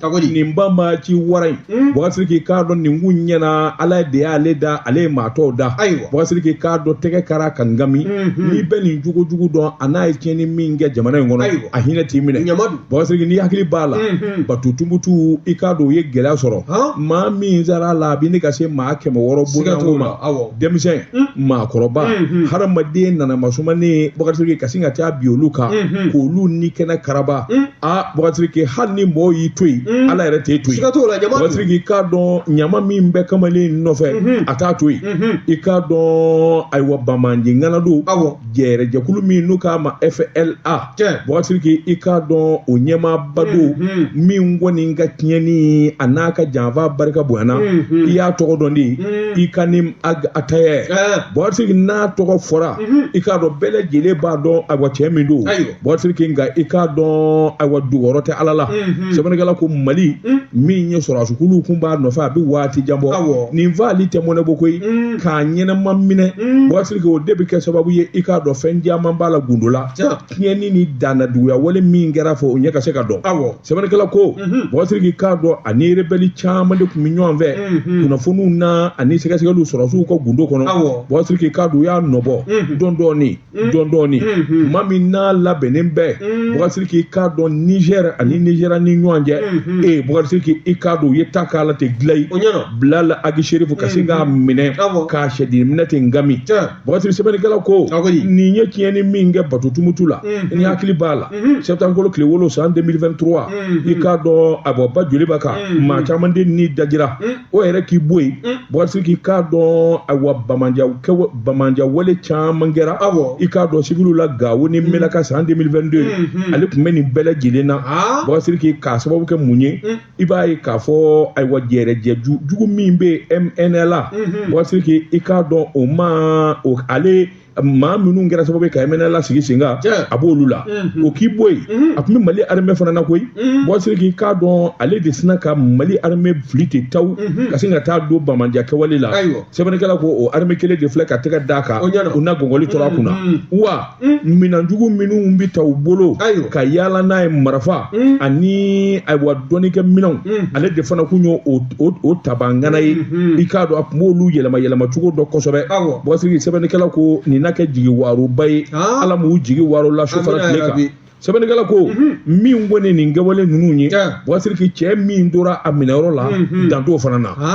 nin ba ma ci wara in hmm? bɔgasiriki i k'a dɔn nin kun ɲinɛna ala de y'ale da ale ye maa tɔw da bɔgasiriki i k'a dɔn tɛgɛ kara ka ngami hmm, hmm. n'i bɛ nin jogo jugu dɔn a n'a ye tiɲɛni min kɛ jamana in kɔnɔ a hinɛ t'i minɛ bɔgasiriki n'i hakili b'a la bato tumutu i k'a dɔn u ye gɛlɛya sɔrɔ maa min sara a la a bɛ ɲini ka se maa kɛmɛ wɔɔrɔ bɔɲɔgɔnko ma denmisɛn maakɔrɔba hadamaden nana masumanen bɔgasiriki ka sin ka taa bin olu kan k'olu ni kɛnɛ karaba a bɔgasiriki hali ni mɔgɔw y'i to yen mm. ala yɛrɛ t'e to yen bɔgasiriki k'a dɔn ɲama min bɛ kamalen nɔfɛ mm-hmm. a t'a to yen mm-hmm. i k'a dɔn ayiwa banbaanci ŋana don jɛrɛjɛkulu min n'u k'a ma fla bɔgasiriki i k'a dɔn o ɲɛmaaba don mm-hmm. min kɔni ka tiɲɛni a n'a ka janfa barika bonyana i y'a tɔgɔ dɔn de mm. inkinani atayɛ eh. bɔgasiriki n'a tɔgɔ fɔra i k'a dɔn bɛɛ lajɛlen b'a dɔn ayiwa cɛ min don Bɔgasiriki nka i k'a dɔn ayiwa dogoyɔrɔ tɛ ala la sɛbɛnnikɛla ko mali min ye sɔrasikulu kun b'a nɔfɛ a bɛ waati jan bɔ nin faali tɛ mɔnɛ bɔ koyi k'a ɲɛnama minɛ bɔgasiriki o de bɛ kɛ sababu ye i k'a dɔn fɛn caman b'a la gundo la tiɲɛni ni dannajuguya wale min kɛra fo o ɲɛ ka se ka dɔn aw sɛbɛnnikɛla ko bɔgasiriki k'a dɔn a ni rebɛli caman de tun bɛ ɲɔgɔn fɛ kunnafoniw na ani sɛgɛsɛgɛli sɔrasiw ka gundo kɔnɔ bɔgasiriki k'a dɔn u y'a nɔ bɔ dɔɔni dɔɔni Mm. dɔɔni dɔɔni mm-hmm. maa min n'a labɛnnen bɛ mm. bɔgasiriki i k'a dɔn nizɛri ani nizeriya ni ɲɔgɔn cɛ mm-hmm. ee bɔgasiriki i k'a dɔn u ye ta k'a la ten gilayi bilali agi serifu ka se k'a mm-hmm. minɛ k'a sɛdini minɛ ten ngami bɔgasiriki sɛbɛnnikɛla ko nin ye tiɲɛni min kɛ bato tumutu la n'i hakili b'a la sɛtanburukalo tile wolonwula san 2023 i k'a dɔn a bɔ ba joli b'a kan maa caman de ni dajira o yɛrɛ k'i bɔ yen bɔgasiriki i k'a dɔn ayiwa banbaanciya wale caman kɛra i k'a dɔn siwiliw la gawo ni menaka san 2022 ale tun bɛ nin bɛɛ lajɛlen na bɔgasiriki k'a sababu kɛ mun ye i b'a ye k'a fɔ ayiwa jɛrɛjɛ jugu min bɛ mnla bɔgasiriki i k'a dɔn o ma o ale maa minnu kɛra sababu ye ka mnla lasigi sen kan a b'olu la mhm. o k'i bɔ yen mhm. a tun bɛ mali armɛ fana na koyi mhm. bɔgasiriki i k'a dɔn ale de sina ka mali armɛ fili ten taw ka sin ka taa don banbaanciya kɛwale la sɛbɛnnikɛla ko o armɛ kelen de filɛ ka tɛgɛ d'a kan u na gɔngɔli tora a kunna wa minanjugu minnu bɛ ta u bolo ka yaala n'a ye marafa ani ayiwa dɔnnikɛ minɛnw ale de fana kun y'o o o tabaa ŋana ye mhm. i k'a dɔn a tun b'olu yɛlɛma yɛlɛma cogo dɔn kosɛbɛ bɔgasiriki sɛbɛnnikɛla ko nin na kɛ jigi waaroba ye ah. ala m'u jigi waarola su fara tile kan sɛbɛnnikɛla ko mhm. min kɔni nin kɛwale ninnu ye bɔgasiriki cɛ min tora a minɛyɔrɔ la mhm. dan t'o fana na ah.